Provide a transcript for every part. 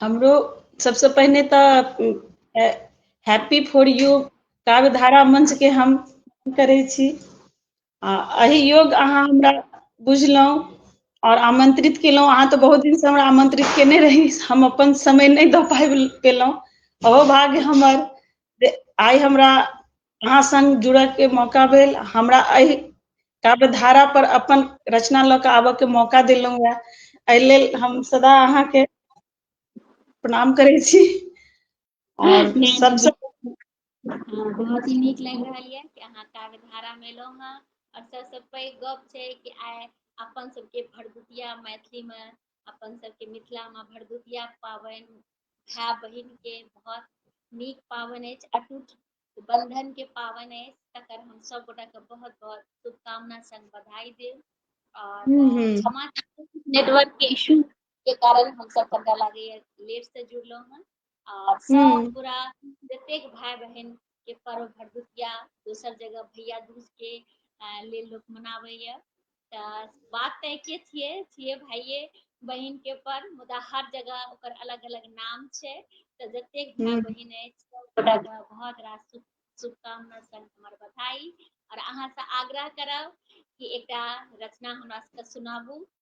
हमरो सबसँ पहिने तऽ हैप्पी फॉर यू काव्य धारा मंचके हम करै छी आ एहि योग अहाँ हमरा बुझलहुँ आओर आमंत्रित केलहुँ अहाँ तऽ बहुत दिनसँ हमरा आमंत्रित केने रही हम अपन समय नहि दऽ पाबि पेलहुँ ओहो भाग्य हमर जे आइ हमरा अहाँ संग जुड़य के मौका भेल हमरा एहि काव्य धारा पर अपन रचना लऽ कऽ आबय के मौका देलहुँ हुए एहि लेल हम सदा अहाँके प्रणाम करै छी और सबसे बहुत ही नीक लागि रहल यऽ कि अहाँ काव्य धारा मे एलहुँ हँ और सबसे पैघ गप छै कि आइ अपन सबके भरदुतिया मैथिली मे अपन सबके मिथिला मे भरदुतिया पाबनि भाय बहिन के बहुत नीक पावन अछि अटूट बंधन के पावन अछि तकर हम सब गोटा के बहुत बहुत शुभकामना संग बधाई देब और हम्म, हम्म। क्षमा नेटवर्क के इशू के कारण हम सब कनिटा लागैए लेट से जुड़लहुँ हँ और सब हम्म। पूरा जतेक भाय बहिन के पर्व भरदुतिया दोसर जगह भैया दूज के लेल लोक मनाबैए तऽ बात तऽ एके छियै छियै भाइये बहिन के पर्व मुदा हर जगह ओकर अलग अलग नाम छै तऽ जतेक भाय हम्म, बहिन अछि ओकरा बहुत रास शुभकामना संग हमर बधाई और अहाँ से आग्रह करब कि एकटा रचना हमरा सबके सुनाबू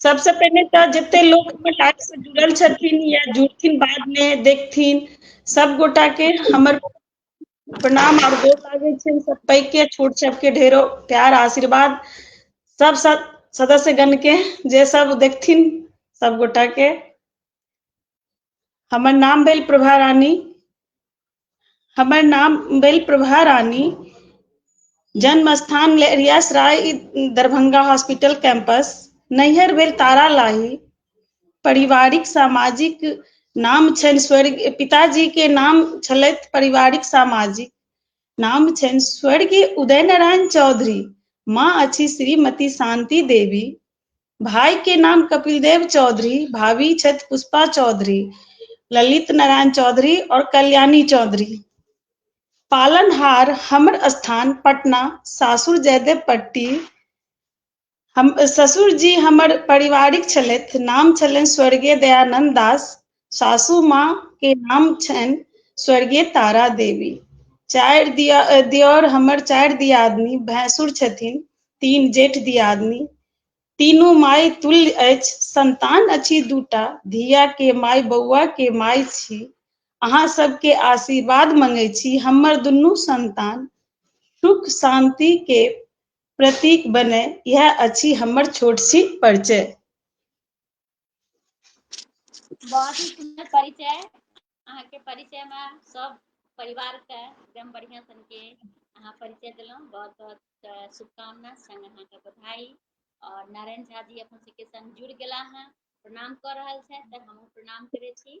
सबसँ पहिने तऽ जते लोक हमर लाइफसँ जुड़ल छथिन या जुड़थिन बादमे देखथिन सब गोटाके हमर प्रणाम आओर गोर लागै छनि सब पैघके छोट सबके ढेरो प्यार आशीर्वाद सब सब सदस्यगणके जे सब देखथिन सब गोटाके हमर नाम भेल प्रभा रानी हमर नाम भेल प्रभा रानी जन्म स्थान Laheriasarai Darbhanga hospital campus नैहर भेल तारा लाही पारिवारिक सामाजिक नाम छनि स्वर्ग पिताजी के नाम छलथि पारिवारिक सामाजिक नाम छनि स्वर्गीय उदय नारायण चौधरी माँ अछि श्रीमती शांति देवी भाई के नाम कपिल देव चौधरी भाभी छत पुष्पा चौधरी ललित नारायण चौधरी और कल्याणी चौधरी पालनहार हमर स्थान पटना सासुर जयदेव पट्टी हम ससुर जी हमर पारिवारिक छलथि नाम छलनि स्वर्गीय दयानंद दास सासू माँ के नाम छनि स्वर्गीय तारा देवी चारि दिया दियोर हमर चारि दियादनी भैंसुर छथिन तीन जेठ दियादनी तीनू माय तुल्य अछि संतान अछि दूटा धिया के माय बौआ के माय छी अहाँ सबके आशीर्वाद मंगे छी हमर दुनू संतान सुख शांति के प्रतीक बने यह अछि हमर छोट सी परिचय बहुत ही सुंदर परिचय अहाँ के परिचय में सब परिवार के एकदम बढ़िया सन के अहाँ परिचय दिलों बहुत बहुत शुभकामना संग अहाँ के बधाई और नारायण झा जी अपन सबके संग जुड़ गला हैं प्रणाम कर रहा है तो हम प्रणाम करे छी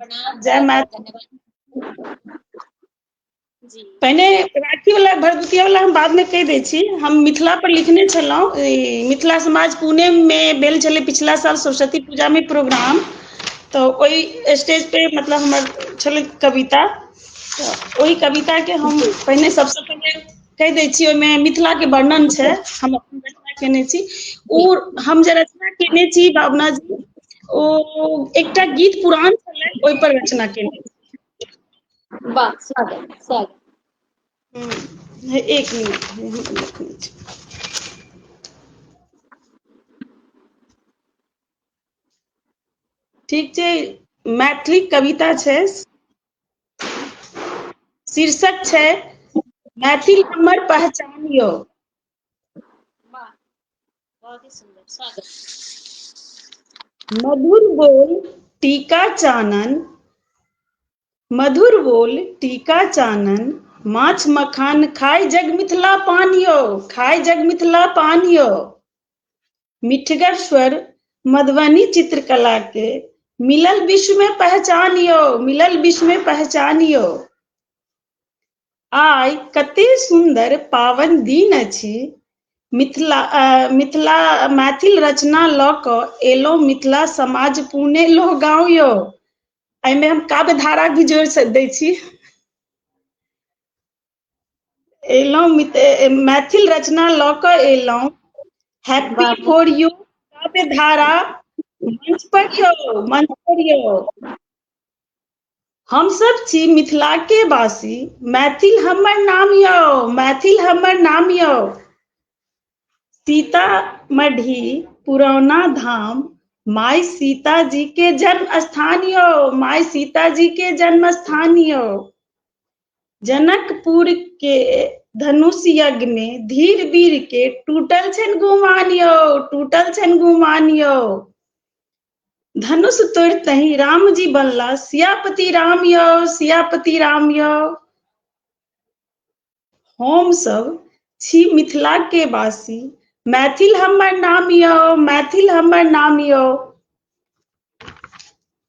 प्रणाम जय बहुत बहुत माता धन्यवाद जी पहिने राखी वाला भरदुतिया वाला हम बाद मे कहि दै छी हम मिथिला पर लिखने छलहुँ मिथिला समाज पुणे मे भेल छलै पिछला साल सरस्वती पूजा मे प्रोग्राम तऽ ओहि स्टेज पे मतलब हमर छलै कविता तऽ ओहि कविता के हम जी पहिने सबसँ पहिने कहि दै छी ओहिमे मिथिला के वर्णन छै हम अपन रचना केने छी ओ हम जे रचना केने छी भावना जी ओ एकटा गीत पुरान छलै ओहिपर रचना केने छी वाह स्वागत स्वागत ह एक मिनट ठीक छै मैथिली कविता छै शीर्षक छै मैथिल हमर पहचान यौ मधुर बोल टीका चानन मधुर बोल टीका चानन माछ मखान खाय जग मिथिला पान यौ खाय जग मिथिला पान यौ मिठगर स्वर मधुबनी चित्रकला के मिलल विश्व में पहचान यो मिलल विश्व में पहचान यो आय कते सुंदर पावन दिन अछि मिथिला मिथिला मैथिल रचना लऽ कऽ एलहुँ मिथिला समाज पुणे लो गाँव यो एहिमे हम काव्य धारा भी जोड़ि दै छी एलहुँ मैथिल रचना लऽ कऽ एलहुँ हैप्पी फॉर यू काव्य धारा मंच पर यौ मंच पर यौ हमसभ छी मिथिलाके वासी मैथिल हमर नाम यौ मैथिल हमर नाम यौ सीता मढ़ी पुरौना धाम माय सीता जी के जन्म स्थान यो माय सीता जी के जन्म स्थान यो जनकपुर के धनुष यज्ञ मे धीर वीर के टूटल छनि गुमान यौ टूटल छनि गुमान यौ धनुष तोड़तहि राम जी बनला सियापति राम यौ सियापति राम यौ हम सब छी मिथिला के वासी मैथिल हमर नाम यौ मैथिल हमर नाम यौ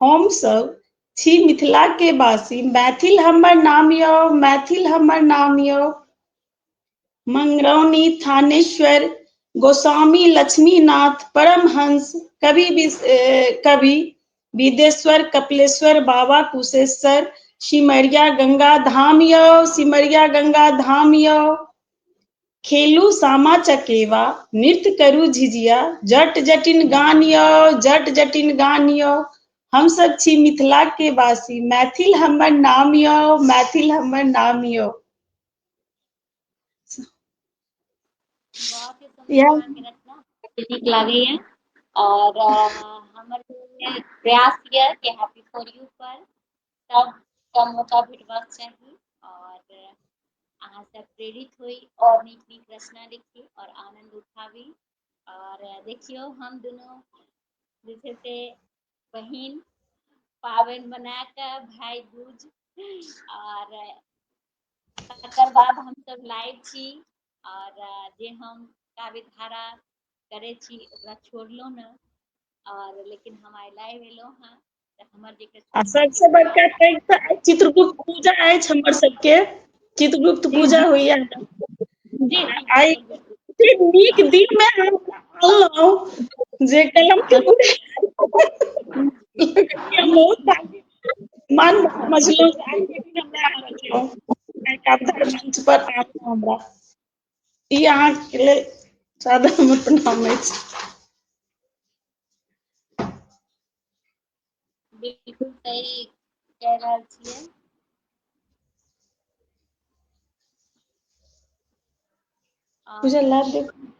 हम सब छी मिथिला के वासी मैथिल हमर नाम यो मैथिल हमर नाम यो मंगरौनी थानेश्वर गोस्वामी लक्ष्मीनाथ परमहंस कवि कवि विदेश्वर कपिलेश्वर बाबा कुशेश्वर सिमरिया गंगा धाम यो सिमरिया गंगा धाम यो खेलू सामा चकेवा नृत्य करू झिझिया जट जटिन गान यौ जट जटिन गान यौ हमसभ छी मिथिला के वासी मैथिल हमर नाम यौ मैथिल हमर नाम यौ नीक लागैए और हमर प्रयास यऽ कि हैप्पी फॉर यू पर तब कम मौका भेटबाक चाही आओर अहाँ सब प्रेरित होइ और नीक नीक रचना लिखी और आनंद उठाबी और देखियो हम दोनों जे छै से बहिन पाबनि बना के भाई दूज और तकर बाद हम सब लाइव छी और जे हम काव्य धारा करे छी ओकरा छोड़लो न और लेकिन हम आई लाइव एलो हाँ हमर जे आ सबसँ बड़का पैघ तऽ चित्रगुप्त पूजा अछि हमर सबके चित्रगुप्त पूजा होइया आइ नीक दिन मे हम कहलहुँ जे कलम के मन मजलू मंच पर हमरा ई अहाँके लेल साधारण प्रणाम अछि बिल्कुल सही कह रहा छे पूजा लाइव देखो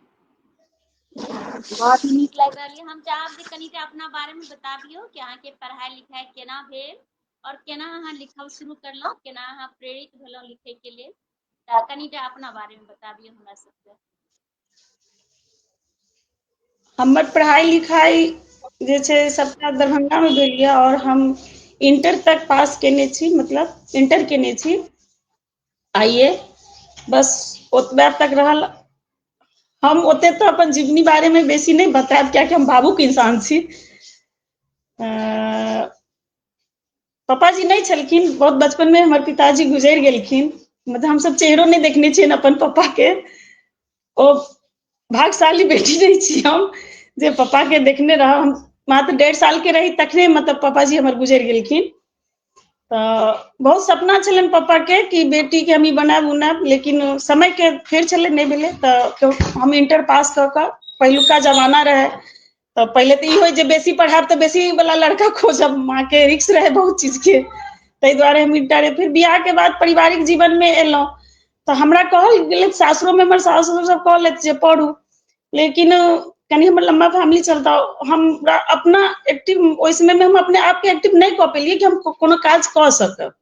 बहुत नीक लागि रहल है हम चाहब जे कनी अपना बारे में बता दियो कि अहाँ के पढ़ाई लिखाई केना भेल और केना अहाँ लिखब शुरू करलहुँ केना अहाँ प्रेरित भेलहुँ लिखे के लिए कनी अपना बारे में बता दियो हमरा सबके हमर पढ़ाइ लिखाइ जे छै सभटा दरभंगामे भेल यए आओर हम इंटर तक पास केने छी मतलब इंटर केने छी आइए बस ओतबे तक रहल हम ओते तऽ अपन जीवनी बारेमे बेसी नहि बतायब कियाकि हम भावुक इंसान छी पापाजी नहि छलखिन बहुत बचपन मे हमर पिताजी गुजरि गेलखिन मतलब हमसभ चेहरो नहि देखने छियनि अपन पप्पा के ओ भागशाली बेटी नहि छी हम जे पप्पा के देखने रहब हम मात्र डेढ़ साल के रही तखने मतलब पापाजी हमर गुजरि गेलखिन तऽ बहुत सपना छलनि पप्पा के कि बेटी के हम ई बनायब उनायब लेकिन समय के फेर छलै नहि भेलै तऽ हम इंटर पास कऽ कऽ पहिलुका जमाना रहै तऽ पहिले तऽ ई होय जे बेसी पढ़ायब तऽ बेसी वाला लड़का खोजब माँ के रिक्स रहै बहुत चीज के ताहि दुआरे हम इन्टा फेर बियाह के बाद पारिवारिक जीवन मे एलहुँ तऽ हमरा कहल गेलथि सासुरो मे हमर सास ससुर सब कहलथि जे पढ़ू लेकिन कनि हमर लम्बा फेमिली चलता हमरा अपना एक्टिव ओहि समय मे हम अपने आप के एक्टिव नहि कऽ पेलियै कि हम कोनो काज कऽ सकब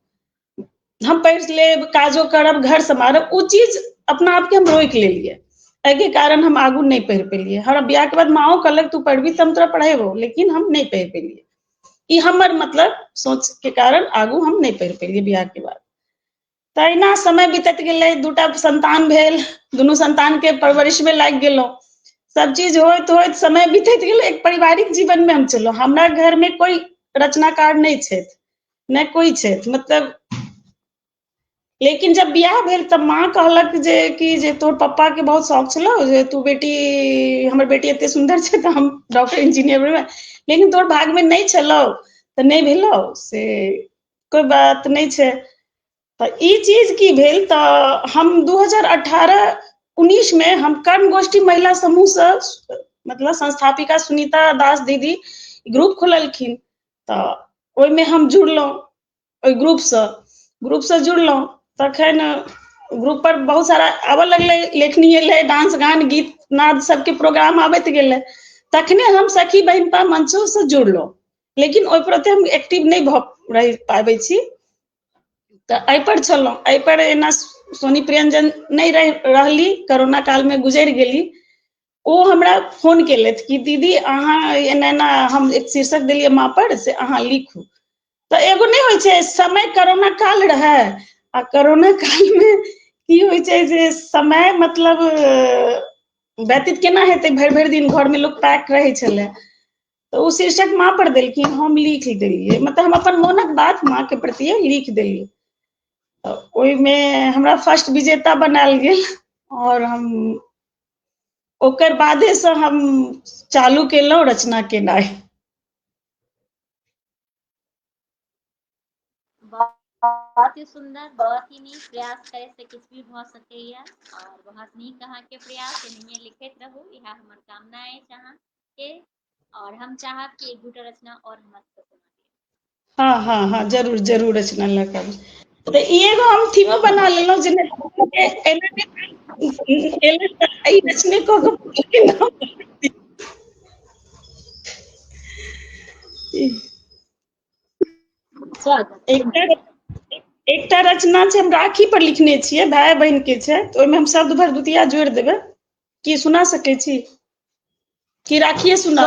हम पढ़ि लेब काजो करब घर सम्हारब ओ चीज अपना आपके हम रोकि लेलियै एहिके कारण हम आगू नहि पढ़ि पेलियै हमरा बियाहके बाद माओ कहलक तू पढ़बी तऽ हम तोरा पढ़ेबो लेकिन हम नहि पढ़ि पेलियै ई हमर मतलब सोचके कारण आगू हम नहि पढ़ि पेलियै बियाहके बाद तहिना समय बीतत गेलै दूटा संतान भेल दुनू संतानके परवरिशमे लागि गेलहुँ सब चीज होइत होइत समय बीतैत गेल एक पारिवारिक जीवनमे हम चलहुँ हमरा घरमे कोइ रचनाकार नहि छथि नहि कोइ छै मतलब लेकिन जब बियाह भेल तब माँ कहलक जे कि जे तोर पप्पा के बहुत शौक छलो जे तू बेटी हमर बेटी एते सुंदर छै तऽ हम डॉक्टर इंजीनियर बनबै लेकिन तोर भाग में नहि छलो तऽ नहि भेलो से कोई बात नहि छै तऽ ई चीज की भेल तऽ हम दू हजार अठारह उन्नीस मे हम कर्म गोष्ठी महिला समूह से मतलब संस्थापिका सुनीता दास दीदी ग्रुप खोललखिन तऽ ओहिमे हम जुड़लहुँ ओहि ग्रुपसँ ग्रुपसँ जुड़लहुँ तखन ग्रुप पर बहुत सारा आबऽ लगलै लेखनी एलै डांस गान गीत नाद सबके प्रोग्राम आबैत गेलै तखने हम सखी बहिन पर मंचो से जुड़लहुँ लेकिन ओहि प्रति हम एक्टिव नहि भऽ रहि पाबै छी तऽ एहिपर छलहुँ एहिपर एना सोनी प्रियञ्जन नहि रहि रहली करोना कालमे गुजरि गेली ओ हमरा फोन केलथि कि दीदी अहाँ एना एना हम एक शीर्षक देलियै माँपर से अहाँ लिखू तऽ एगो नहि होइ छै समय करोना काल रहै आ करोना कालमे की होइ छै जे समय मतलब व्यतीत केना हेतै भरि भरि दिन घरमे लोक पैक रहै छलै तऽ ओ शीर्षक माँ पर देलखिन हम लिख देलियै मतलब हम अपन मोनक बात माँ के प्रति लिख देलियै ओहिमे हमरा फर्स्ट विजेता बनायल गेल और हम ओकर बादे से हम चालू केलहुँ रचना केनाइ बहुत ही सुंदर बहुत ही नीक प्रयास करे से किछु भी भ सकैया और बहुत नीक अहाँ के प्रयास एनाहिए लिखैत रहू इहा हमर कामना है अहाँ के और हम चाहब कि एक दूटा रचना और हमरा सबके हाँ हाँ हाँ जरूर जरूर रचना लऽ कऽ तऽ ई एगो हम थीमो बना लेलहुँ जे एकटा रचना छै हम राखी पर लिखने छियै भाय बहिन के छै तऽ ओहिमे हम शब्द भरदुतिया जोड़ि देबै की सुना सकै छी की राखिए सुना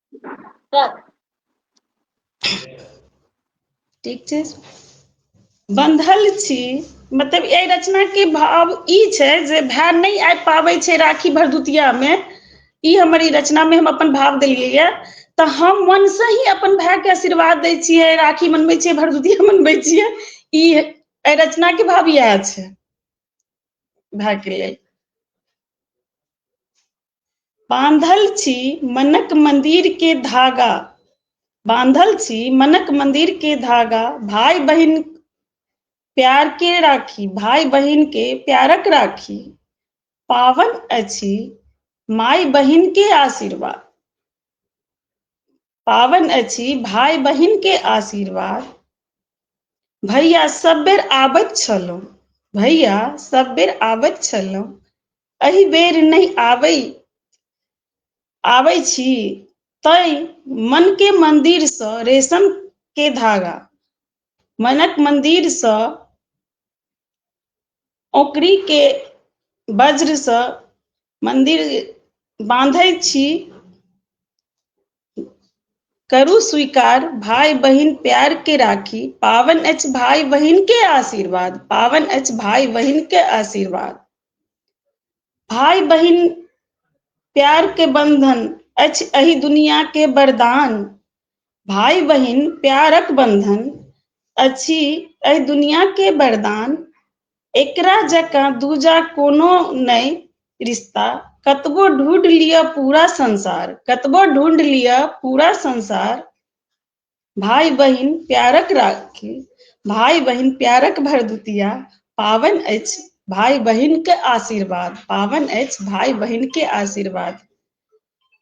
ठीक छै बन्धल छी मतलब एहि रचना के भाव ई छै जे भाय नहि आबि पाबै छै राखी भरदुतिया मे ई हमर ई रचना मे हम अपन भाव देलियै यऽ तऽ हम मन से ही अपन भाय के आशीर्वाद दै छियै राखी मनबै छियै भरदुतिया मनबै छियै ई एहि रचना के भाव इएह छै भाय के लेल बांधल छी मनक मंदिर के धागा बांधल छी मनक मंदिर के धागा भाई बहन प्यार के राखी भाई बहन के प्यारक राखी पावन अछि माई बहन के आशीर्वाद पाबनि अछि भाय बहिन के आशीर्वाद भैया सब बेर आबैत छलहुँ भैया सब बेर आबैत छलहुँ एहि बेर नहि आबै आबै छी तै मन के मंदिर सँ रेशम के धागा मनक मंदिर सँ ओकरी के वज्र से मंदिर बांधे छी करू स्वीकार भाई बहिन प्यार के राखी पावन अछि भाई बहिन के आशीर्वाद पावन अछि भाई बहिन के आशीर्वाद भाई बहिन प्यार के बंधन अछि एहि दुनिया के वरदान भाई बहिन प्यारक बंधन अछि एहि दुनिया के वरदान एकरा जकाँ दूजा कोनो नहि रिश्ता कतबो ढूंढ लिया पूरा संसार कतबो ढूंढ लिया पूरा संसार भाई बहिन प्यारक राखी भाई बहिन प्यारक भरदुतिया पावन अछि भाई बहिन के आशीर्वाद पावन अछि भाई बहिन के आशीर्वाद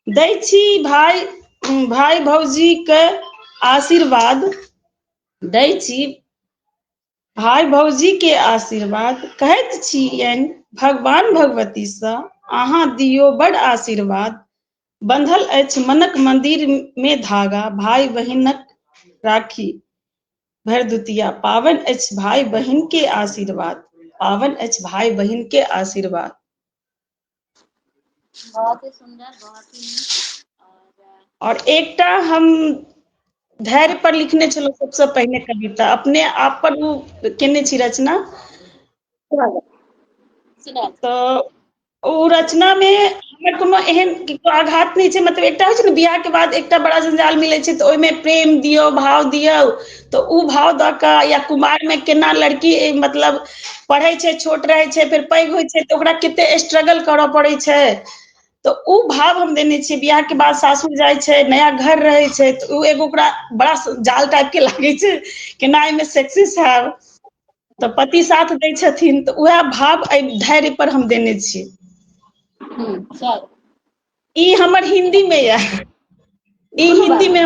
दै छी भाय भाय भौजीके आशीर्वाद दै छी भाय भौजीके आशीर्वाद कहैत छियनि भगवान भगवतीसँ अहाँ दियौ बड आशीर्वाद बंधल अछि मनक मंदिर मे धागा भाय बहिनक राखी भरदुतिया पावन अछि भाय बहिन के आशीर्वाद पावन अछि भाय बहिन के आशीर्वाद बहुत ही सुंदर बहुत ही नीक और एकटा हम धैर्य पर लिखने छलहुँ सबसे पहिने कविता अपने आप पर ओ केने छी रचना तो ओ रचना में हमर कोनो एहन आघात नहीं छै मतलब एकटा होइ छै ने बियाह के बाद एकटा बड़ा जंजाल मिलै छै तऽ ओहिमे प्रेम दियो भाव दियो तऽ ओ भाव दऽ कऽ या कुमारमे केना लड़की मतलब पढ़ै छै छोट रहै छै फेर पैघ होइ छै तऽ ओकरा कते स्ट्रगल करऽ पड़ै छै तऽ ओ भाव हम देने छियै बियाहके बाद सासुर जाइ छै नया घर रहै छै तऽ ओ एगो ओकरा बड़ा जाल टाइप के लागै छै केना एहिमे सक्सेस हयब तऽ पति साथ दै छथिन तऽ उएह भाव एहि धैर्य पर हम देने छी ई हमर हिन्दी मे यऽ ई हिन्दी मे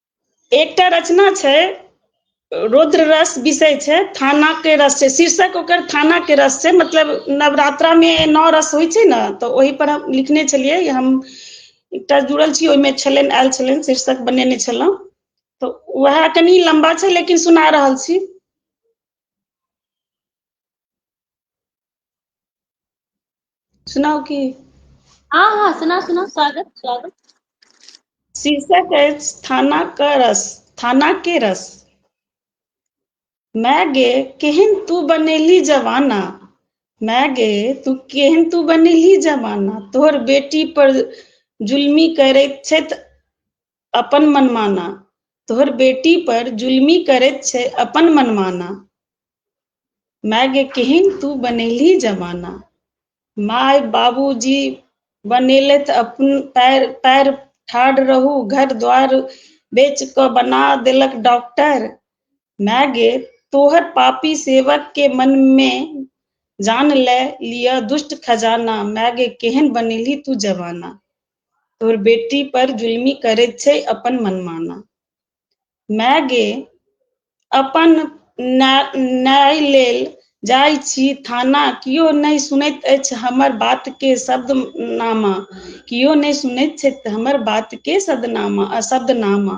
एकटा रचना छै रुद्र रस विषय छै थाना के रस छै शीर्षक ओकर थाना के रस छै मतलब नवरात्रा मे नौ रस होइ छै ने तऽ ओहि पर हम लिखने छलियै हम एकटा जुड़ल छी ओहिमे छलनि आयल छलनि शीर्षक बनेने छलहुँ तऽ वएह कनि लम्बा छै लेकिन सुना रहल छी सुनाउ की हँ हँ सुना सुना स्वागत स्वागत शीर्षक अछि थाना के रस थाना के रस मैं गे केहन तू बनेली जवाना मैं गे तू केहन तू बनेली जवाना तोहर बेटी पर जुल्मी करैत छथि अपन मनमाना तोहर बेटी पर जुलमी करैत छै अपन मनमाना माय गे केहन तू बनेली जमाना माय बाबूजी बनेलथि अपन पैर पैर ठाढ़ रहू घर द्वार बेच कऽ बना देलक डॉक्टर माय गे तोहर पापी सेवक के मन मे जान ले लिअ दुष्ट खजाना माय गे केहन बनेली तू जवाना तोर बेटी पर जुलमी करैत छै अपन मनमाना माय गे अपन न्याय लेल जाइ छी थाना कियो नहि सुनैत अछि हमर बात के शब्द नामा कियो नहि सुनैत छथि हमर बात के शब्दनामा शब्दनामा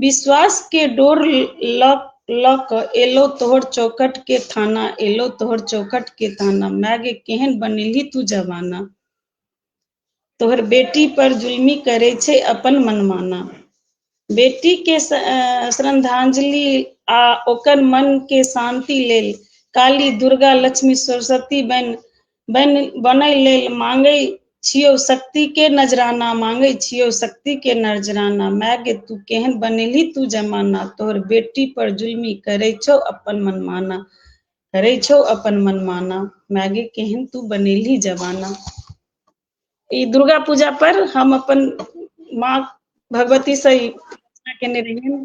विश्वास के डोर ल ल क एलो तोहर चौकट के थाना एलो तोहर चौकट के थाना माय गे केहन बनेलही तू जमाना तोहर बेटी पर जुल्मी करे छे अपन मनमाना बेटी के स- अ, श्रद्धांजलि आ ओकर मन के शांति लेल काली दुर्गा लक्ष्मी सरस्वती बन बन बनै लेल मांगै छियौ शक्ति के नजराना मांगै छियौ शक्ति के नजराना माय गे तू केहन बनेली तू जमाना तोहर बेटी पर जुल्मी करै छौ अपन मनमाना करै छौ अपन मनमाना माय गे केहन तू बनेली जमाना ई दुर्गा पूजा पर हम अपन माँ भगवती से केने रहियन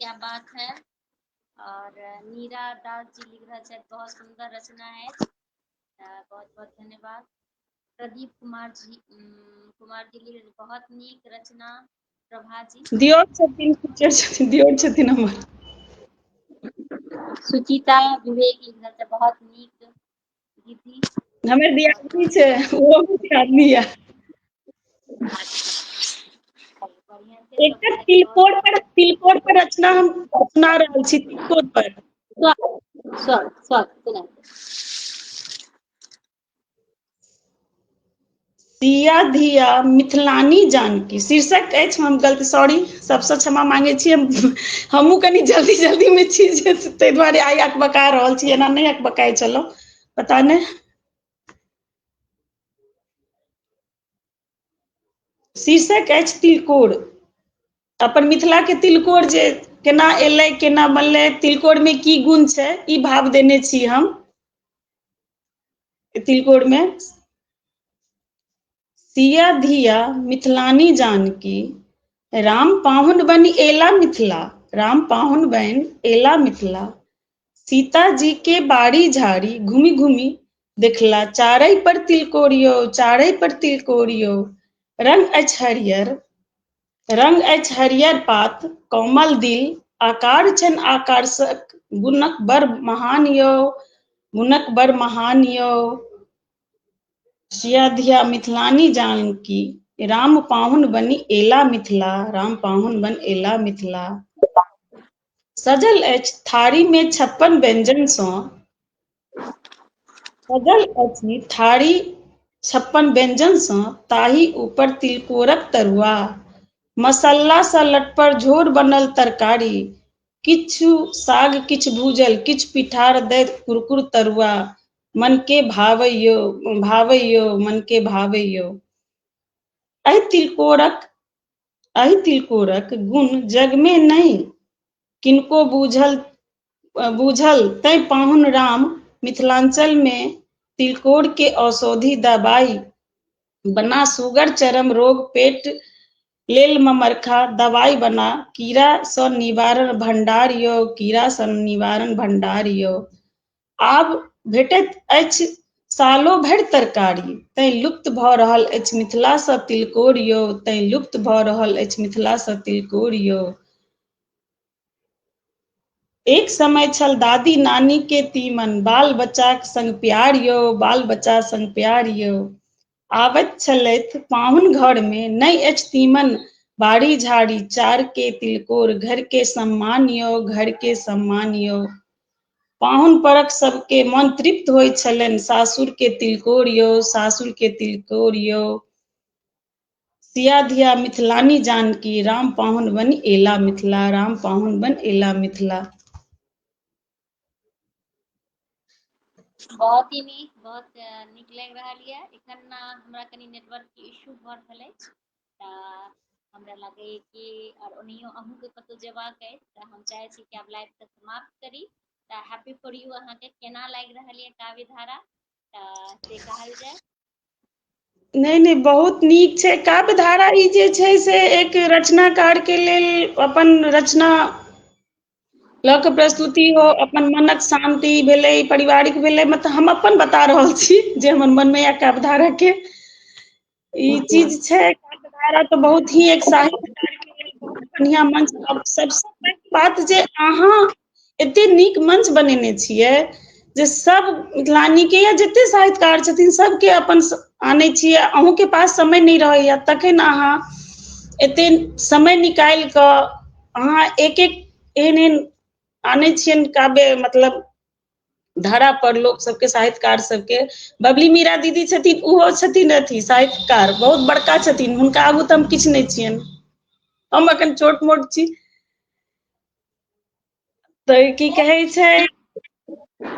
क्या बात है और नीरा दास जी लिख रहा है बहुत सुंदर रचना है बहुत बहुत धन्यवाद प्रदीप कुमार जी कुमार जी लिख बहुत नीक रचना प्रभा जी दियोर छथिन टीचर छथिन दियोर छथिन हमर सुचिता विवेक लिख रहा है बहुत नीक दीदी हमर दियादनी छै ओहो दियादनी ये एकटा तिलकोर पर तिलकोर पर रचना हम सुना रहल छी तिलकोर पर सिया धिया मिथिलानी जानकी शीर्षक अछि हम गलती सॉरी सबसँ क्षमा मांगे छी हम हमहूँ कनी जल्दी जल्दी मे छी जे ताहि दुआरे आइ अकबका रहल छी एना नहि अकबकाइ छलहुँ पता नहि शीर्षक अछि तिलकोर अपन मिथिलाके तिलकोर जे केना एलै केना बनलै तिलकोरमे की गुण छै ई भाव देने छी हम तिलकोर में सिया धिया मिथिलानी जानकी राम पाहुन बन एला मिथिला राम पाहुन बन एला मिथिला सीता जी के बाड़ी झाड़ी घूमी घूमी देखला चारै पर तिलकोरियो चारै पर तिलकोरियो रंग अछि हरियर रंग अछि हरियर पात कोमल दिल आकार छन आकर्षक गुणक बड़ महान यो गुणक बड़ महान यो शिया धिया मिथिलानी जानकी राम पाहुन बनी एला मिथिला राम पाहुन बन एला मिथिला सजल अछि थारी में छप्पन व्यंजन सौ सजल अछि थारी छप्पन व्यञ्जनसँ ताहि ऊपर तिलकोरक तरुआ मसालासँ लटपर झोर बनल तरकारी किछु साग किछु भूजल किछु पिठार दैत कुरकुर तरुआ मनके भावैयो भावैयो मनके भावैयो एहि तिलकोरक एहि तिलकोरक गुण जगमे नहि किनको बूझल बूझल तैं पाहुन राम मिथिलाञ्चलमे तिलकोरके औषधि दबाइ बना सुगर चरम रोग पेट लेल ममरखा दवाइ बना कीड़ासँ निवारण भण्डार यौ कीड़ासँ निवारण भण्डार यौ आब भेटैत अछि सालो भरि तरकारी तैँ लुप्त भऽ रहल अछि मिथिलासँ तिलकोर यौ तैँ लुप्त भऽ रहल अछि मिथिलासँ तिलकोर यौ एक समय छल दादी नानी के तीमन बाल बच्चाक संग प्यार यौ बाल बच्चा संग प्यार यौ आबैत छलथि पाहुन घर में नहीं अछि तीमन बाड़ी झाड़ी चार के तिलकोर घर के सम्मान यो घर के सम्मान यो पाहुन परक सबके मन तृप्त होइ छलनि सासुर के तिलकोर यो सासुर के तिलकोर यो सिया धिया मिथिलानी जानकी राम पाहुन बन एला मिथिला राम पाहुन बन एला मिथिला बहुत ही नीक बहुत नीक लागि रहल यऽ एखन हमरा कनि नेटवर्कके इशू भऽ रहल अछि तऽ हमरा लगैए कि आओर ओनाहियो अहूँके कतहु जेबाक अछि तऽ हम चाहै छी कि आब लाइवके समाप्त करी तऽ हैप्पी फॉर यू अहाँके केना लागि रहल यऽ काव्य धारा तऽ से कहल जाय नहि नहि बहुत नीक छै काव्य धारा ई जे छै से एक रचनाकार के लेल अपन रचना लऽ कऽ प्रस्तुति हो अपन मनक शान्ति भेलै पारिवारिक भेलै मतलब हम अपन बता रहल छी जे हमर मनमे यऽ काव्य धारा के ई चीज छै काव्य धारा तऽ बहुत ही एक साहित्यकार के लेल बहुत बढ़िया मंच सबसँ बात जे अहाँ एते नीक मंच बनेने छियै जे सब मिथिलानी के या जते साहित्यकार छथिन सबके अपन आनै छियै अहूँ के पास समय नहि रहैया तखन अहाँ एते समय निकालि कऽ अहाँ एक एक एहन एहन आनै छियनि काव्य मतलब धारा पर लोक सबके साहित्यकार सबके बबली मीरा दीदी छथिन ओहो छथिन अथी साहित्यकार बहुत बड़का छथिन हुनका आगू तऽ हम किछु नहि छियनि हम अखन छोट मोट छी तऽ की कहै छै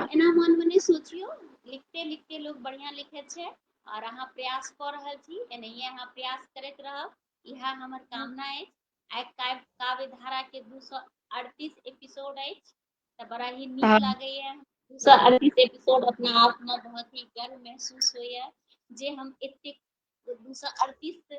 एना मन मे नहि सोचियौ लिखते लिखते लोग बढ़िया लिखे छै आओर अहाँ प्रयास कऽ रहल छी एनाहिए अहाँ प्रयास करैत रहब इएह हमर कामना अछि आइ काव्य काव्य धारा के दू सए अड़तीस एपिसोड अछि तऽ बड़ा ही नीक हँ लागैया दू सए अड़तीस एपिसोड अपना आप मे बहुत ही गर्व महसूस होइया जे हम एतेक दू सए अड़तीस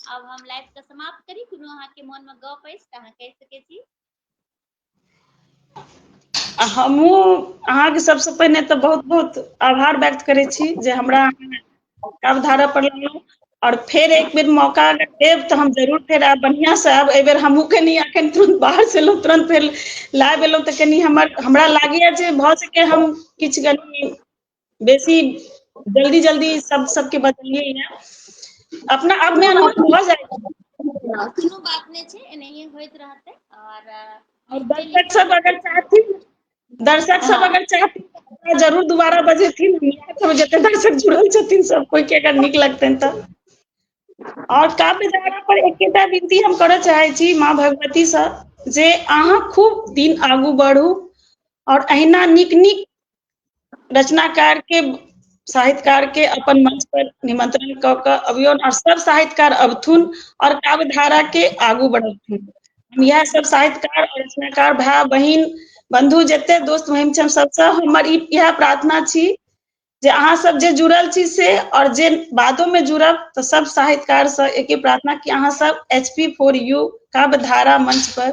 आब हम लाइव के समाप्त करी कोनो अहाँके मन में गप अछि तऽ अहाँ कहि सकै छी आ हमहूँ अहाँके सबसँ पहिने तऽ बहुत बहुत आभार व्यक्त करै छी जे हमरा अवधारा पर लेलहुँ और फेर एक बेर मौका अगर देब तऽ हम जरूर फेर आयब बढ़िआँ से आयब एहि बेर हमहूँ कनी अखन तुरंत बाहर से एलहुँ तुरंत फेर लाइव एलहुँ तऽ कनी हमर हमरा लागैए जे भऽ सके हम किछु कनी बेसी जल्दी जल्दी सब सबके बदलिए या अपना अब में अनुभव भऽ जाय कोनो बात नै छै एनाहिए होइत रहतै और दर्शक सब अगर चाहथिन दर्शक सब हाँ। अगर चाहथिन जरूर दोबारा बजेथिन सब जते दर्शक जुड़ल छथिन सब कोई के अगर निक लगतन त और काव्य धारा पर एकेटा विनती हम करऽ चाहे छी माँ भगवती से जे अहाँ खूब दिन आगू बढ़ू और अहिना निक निक रचनाकार के साहित्यकार के अपन मंच पर निमंत्रण क के अबियो और सब साहित्यकार अबथुन और काव्य धारा के आगू बढ़थुन हम यह सब साहित्यकार और रचनाकार भाई बहन बंधु जते दोस्त महिम छम सबसे हमर यह प्रार्थना छी जे अहाँ सब जे जुड़ल छी से और जे बादो में जुड़ब तो सब साहित्यकार से एक प्रार्थना कि अहाँ सब एच पी फोर यू काव्य धारा मंच पर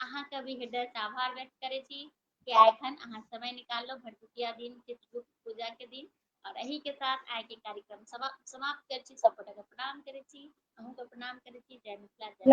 अहाँके भी हृदयसँ आभार व्यक्त करै छी कि आइ एखन अहाँ समय निकाललहुँ भरदुतिया दिन चित्रगुप्त पूजाके दिन आओर एहिके साथ आइके कार्यक्रम समाप्त करै छी सब गोटाके प्रणाम करै छी अहूँके प्रणाम करै छी जय मिथिला जय